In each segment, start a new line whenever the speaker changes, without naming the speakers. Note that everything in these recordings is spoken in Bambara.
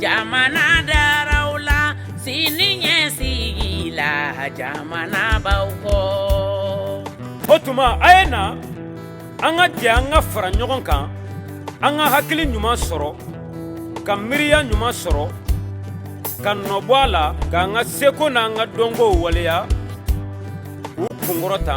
Jamanadaraw la sini ɲɛ sigi la jamanabaw kɔ
o tuma a ye na an ka jɛ an ka fara ɲɔgɔn kan an ka hakili ɲuman sɔrɔ ka miiriya ɲuman sɔrɔ ka nɔbɔ a la k'an ka seko n'an ka dɔnkow waleya k'u kunkɔrɔta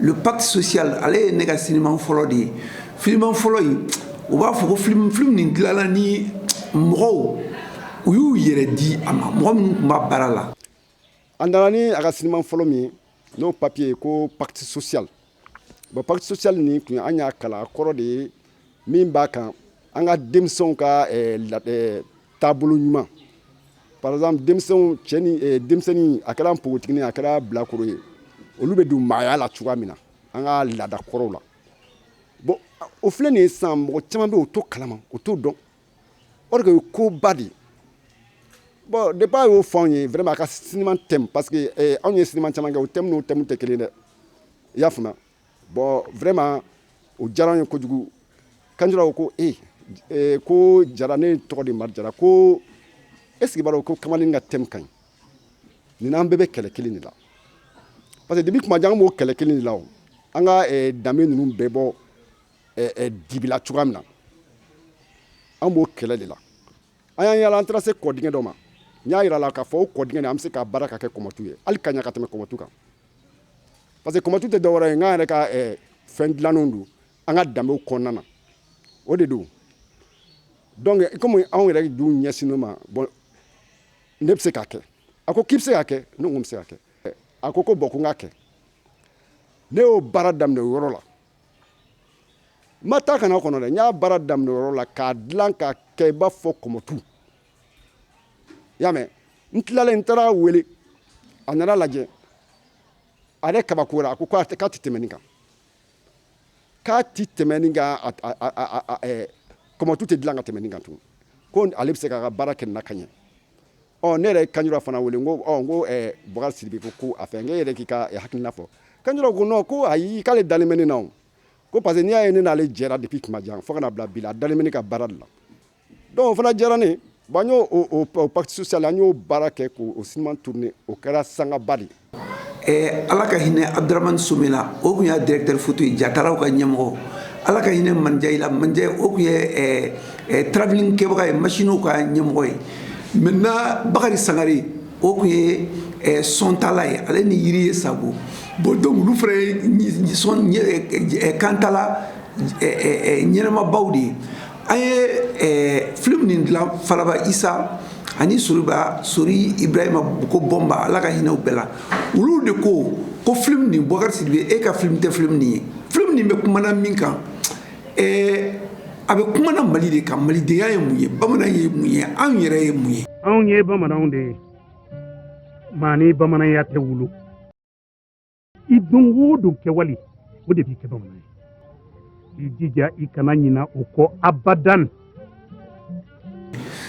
le pacte social ale ye ne ka sinima fɔlɔ de ye filimu fɔlɔ in u b'a fɔ ko film film nin dilanna ni mɔgɔw u y'u yɛrɛ di a ma mɔgɔ minnu tun b'a baara la a nana
ni a ka sinima fɔlɔ min ye n'o papiye ko pacte social bon pacte social nin kun an y'a kalan a kɔrɔ de ye min b'a kan an ka denmisɛnw ka taabolo ɲuman par exemple denmisɛnnin a kɛra npogotigi a kɛra bilakoro ye olu bɛ don maaya la cogoya min na an ka laada kɔrɔw la bon o filɛ nin ye sisan mɔgɔ caman bɛ o t'o kalama o t'o dɔn o de ye koba de ye bon depuis a y'o fɔ anw ye vraiment a ka thème parce que anw ye sinima caman kɛ o thème tɛ kelen dɛ i y'a faamuya Bon vraiment o diyara an ye kojugu Kanjura ko ee ko Jara ne tɔgɔ de Mari Jara ko est-ce que i b'a dɔn ko kamalennin ka thème ka ɲi nin n'an bɛɛ bɛ kɛlɛ kelen de la parce que depuis tuma jan an b'o kɛlɛ kelen de la an ka danbe ninnu bɛɛ bɔ dibi la cogoya min na an b'o kɛlɛ de la an y'an yaala an taara se kɔdingɛ dɔ ma n y'a jira a la k'a fɔ o kɔdingɛ an bɛ se k'a baara k'a kɛ kɔmɔtu ye hali ka ɲɛ ka tɛmɛ kɔmɔtu kan parce que kɔmɔtu tɛ dɔwɛrɛ ye an yɛrɛ ka fɛn dilannen don an ka danbew kɔnɔna na o de don donc comme anw yɛrɛ dun ɲɛsinnen o ma bon ne bɛ se k'a kɛ a ko k'i bɛ se k'a kɛ ne ko n bɛ se k'a kɛ a ko ko bon ko n k'a kɛ ne y'o baara daminɛ o yɔrɔ la n ma taa ka na kɔnɔ dɛ n y'a baara daminɛ o yɔrɔ la k'a dilan k'a kɛ i b'a fɔ kɔmɔtu i y'a mɛn n tilalen n taara a wele a nana a lajɛ a yɛrɛ kabakora a ko k'a tɛ tɛmɛ nin kan k'a tɛ tɛmɛ nin kan kɔmɔtu tɛ dilan ka tɛmɛ nin kan tugun ko ale bɛ se k'a ka baara kɛ nin na ka ɲɛ ɔ ne yɛrɛ ye Kanjura fana wele n ko ɔ n ko Bukari Sidibe ko ko a fɛ n ko e yɛrɛ k'i ka hakilina fɔ Kanjura ko non ko ayi k'ale dalen bɛ ne na o ko parce que n'i y'a ye ne n'ale jɛra depuis tuma jan fo ka na bila bi la a dalen bɛ ne ka baara de la Donc o fana diyara ne bon an y'o pacte social an y'o baara kɛ k'o sinima tourner o kɛra sangaba de ye ala ka hinɛ
Abdrahamane Somé la o tun y'a directeur photo ye jatalaw ka ɲɛmɔgɔ ala ka hinɛ Mandiaye la Mandiaye o tun ye travelling kɛbaga ye masiniw ka ɲɛmɔgɔ ye maintenant Bakari Sangare o tun ye sontala ye ale ni Yiriye Sabo bon donc olu fana ye kantala ɲɛnamabaw de ye An ye film nin dilan falaba isa ani soriba sori ibrahima ko bɔnba ala ka hinɛ u bɛɛ la olu de ko ko film nin Bukari sidibe e ka film tɛ film nin ye film nin bɛ kumana min kan a bɛ kumana mali de kan malidenya ye mun ye bamanan ye mun ye anw yɛrɛ ye mun ye anw ye bamananw
de ye maa ni bamananya tɛ wolo i don o don kɛwale o de b'i kɛ bamanan ye i jija i kana ɲina o kɔ abadan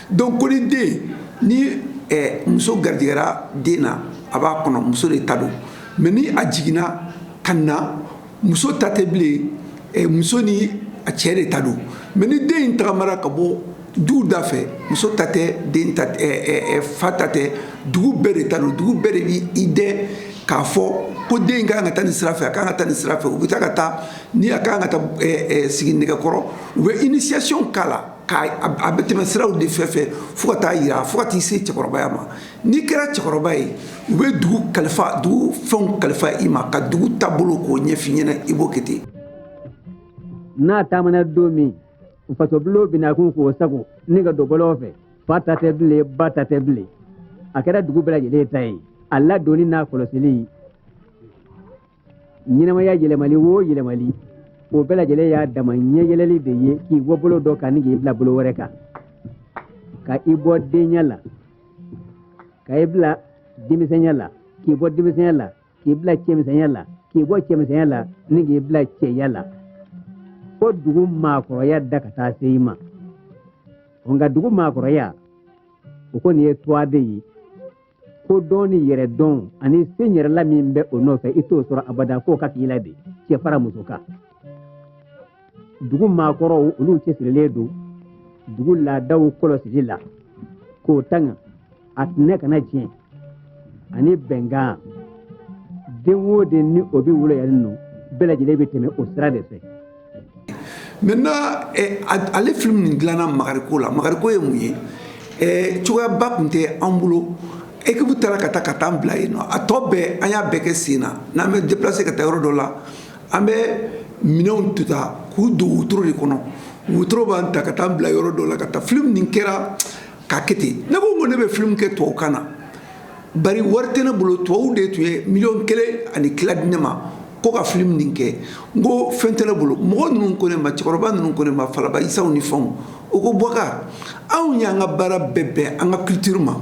donc ko ni den ni eh, muso garijɛgɛra den na a b'a kɔnɔ muso de ta don mais ni a jiginna ka na muso ta tɛ bilen eh, muso ni a cɛ de ta don mais ni den in tagamara ka bɔ du da fɛ muso ta tɛ den fa ta tɛ dugu bɛɛ de ta don dugu bɛɛ de b'i dɛn k'a fɔ ko den ka kan ka taa nin sira fɛ a ka kan ka taa nin sira fɛ u bɛ taa ka taa ni a ka kan ka taa sigi nɛgɛkɔrɔ u bɛ initiation k'a la a bɛ tɛmɛ siraw de fɛ fɛ fo ka taa yira fo ka t'i se cɛkɔrɔbaya ma n'i kɛra cɛkɔrɔba ye u bɛ dugu kalifa dugu fɛnw kalifa i ma ka dugu taabolo k'o ɲɛf'i ɲɛna i b'o kɛ ten
n'a taamana don min faso bulon binakun k'o sago ni ka don bɔlɔn fɛ fa ta tɛ bilen ba ta tɛ bilen a kɛra dugu bɛɛ lajɛlen ta ye a ladonni n'a kɔlɔsili ɲɛnamaya yɛlɛmali o yɛlɛmali o bɛɛ lajɛlen y'a dama ɲɛyɛlɛli de ye k'i bɔ bolo dɔ kan ni k'i bila bolo wɛrɛ kan ka i bɔ denya la ka i bila denmisɛnya la k'i bɔ denmisɛnya la k'i bila cɛmisɛnya la k'i bɔ cɛmisɛnya la ni k'i bila cɛya la fo dugu maakɔrɔya da ka taa se i ma nka dugu maakɔrɔya o kɔni ye twa de ye kodɔn ni yɛrɛdɔn ani se yɛrɛla min bɛ o nɔfɛ i t'o sɔrɔ abada k'o ka k'i la de cɛ fara muso kan dugu maakɔrɔw olu cɛsirilen don dugu laadaw kɔlɔsili la k'o tanga a tinɛ kana tiɲɛ ani bɛnkan den o den ni o bɛ wolo yan nɔ bɛɛ lajɛlen bɛ tɛmɛ o sira de
fɛ maintenant eh, ale film nin dilanna magariko la magariko ye mun ye eh, cogoyaba tun tɛ an bolo ekipu taara ka taa ka t'an bila yen nɔ a tɔ bɛɛ an y'a bɛɛ kɛ sen na n'an bɛ deplase ka taa yɔrɔ dɔ la An bɛ minɛnw tu ta k'u don wotoro de kɔnɔ wotoro b'an ta ka t'an bila yɔrɔ dɔ la ka taa film nin kɛra k'a kɛ ten ne ko n ko ne bɛ film kɛ tubabukan na bari wari tɛ ne bolo tubabuw de tun ye miliyɔn kelen ani tila di ne ma ko ka film nin kɛ n ko fɛn tɛ ne bolo mɔgɔ ninnu ko ne ma cɛkɔrɔba ninnu ko ne ma falaba isaw ni fɛnw u ko Bukari anw y'an ka baara bɛɛ bɛn an ka culture ma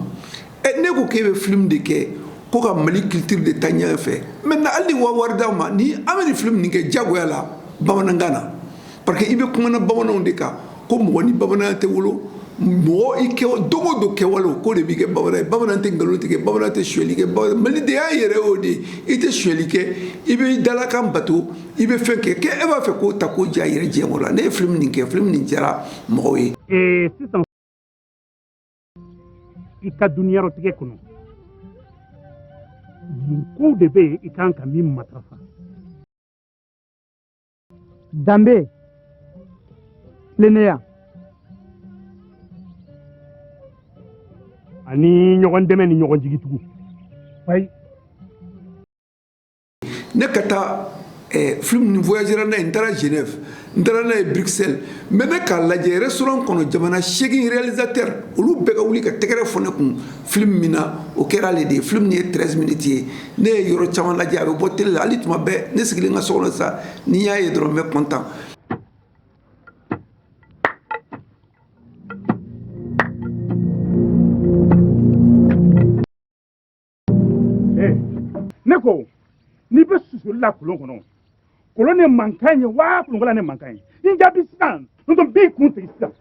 ɛ ne ko k'e bɛ film de kɛ ko ka Mali culture de taa ɲɛ fɛ maintenant hali ni wa wari d'an ma ni an bɛ nin film nin kɛ jagoya la bamanankan na parce que i bɛ kuma na bamananw de kan ko mɔgɔ ni bamananya tɛ wolo mɔgɔ i ka don o don kɛwale ko de b'i kɛ bamanan ye bamanan tɛ nkalon tigɛ bamanan tɛ suyɛli kɛ bamanan malidenya yɛrɛ y'o de ye i tɛ suyɛli kɛ i bɛ dalakan bato i bɛ fɛn kɛ kɛ e b'a fɛ k'o ta k'o ja yira diɲɛ kɔnɔ la ne ye film nin kɛ film nin diyara mɔgɔw ye. sisan
i ka duniyarɔtigɛ kɔnɔ mun kow de bɛ yen i kan ka min matarafa
danbe tilennenya
ani ɲɔgɔn dɛmɛ ni ɲɔgɔn jigitugu ayi
ne ka taa eh, film nin voyagera n'a ye n taara genève n taara n'a ye bruxelles an bɛɛ bɛ k'a lajɛ restaurant kɔnɔ jamana seegin réalisateur olu bɛɛ ka wuli ka tɛgɛrɛ fɔ ne kun film min na o kɛra ale de ye film nin ye 13 minutes ye ne ye yɔrɔ caman lajɛ a bɛ bɔ tele la hali tuma bɛɛ ne sigilen ka so kɔnɔ sa ni n y'a ye dɔrɔn n bɛ content
ne ko n'i bɛ susuli la kolon kɔnɔ kolon ne mankan ye wa kolonkala ne mankan ye n jaabi sisan n'o tɛ n b'i kun sigi sisan.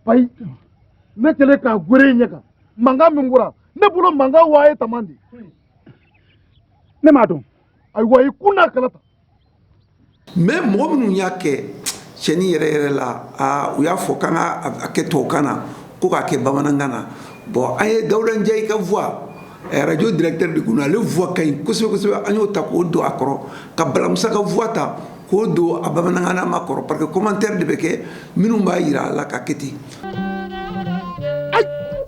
ayi ne kɛlen k'a gere i ɲɛ kan mankan min bɔra ne bolo mankan waa ye taman de
ne m'a dɔn ayiwa i
kolonkala ta
mais mɔgɔ minnu y'a kɛ cɛni yɛrɛ yɛrɛ la u y'a fɔ k'an k'a kɛ tubabukan na ko k'a kɛ bamanankan na bon an ye Dawuda Njayi ka voix radio directeur de kun ale voix ka ɲi kosɛbɛ kosɛbɛ an y'o ta k'o don a kɔrɔ ka Balamusa ka voix ta k'o don a bamanankanma kɔrɔ parce que commentaire de bɛ kɛ minnu b'a yira a la ka kɛ ten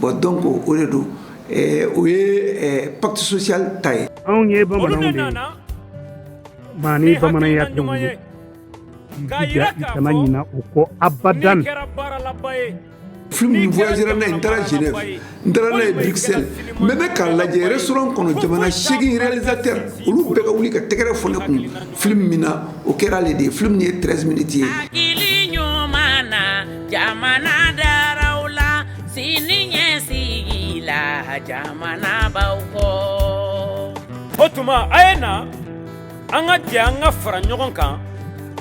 Bon dɔn ko
o de don o ye patisosiya ta ye anw ye bamanan
ni bamananya ɲuman ye kana ɲin u ko abada n
n taara j n taara ne ye dikisɛsɛ mɛ ne k'a lajɛ yɛrɛ s kɔnɔ jamana sɛgizte olu bɛɛ ka wuli ka tɛgɛɛrɛ f ne kun fili min na o kɛra de ye fili min ye tsi miniti ye
Jamanadaraw la siniɲɛsigi la jamanabaw kɔ
o tuma a ye na an ka jɛ an ka fara ɲɔgɔn kan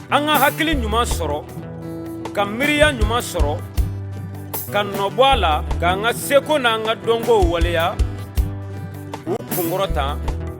an ka hakili ɲuman sɔrɔ ka miiriya ɲuman sɔrɔ ka nɔbɔ a la k'an ka seko n'an ka dɔnkow waleya k'u kunkɔrɔta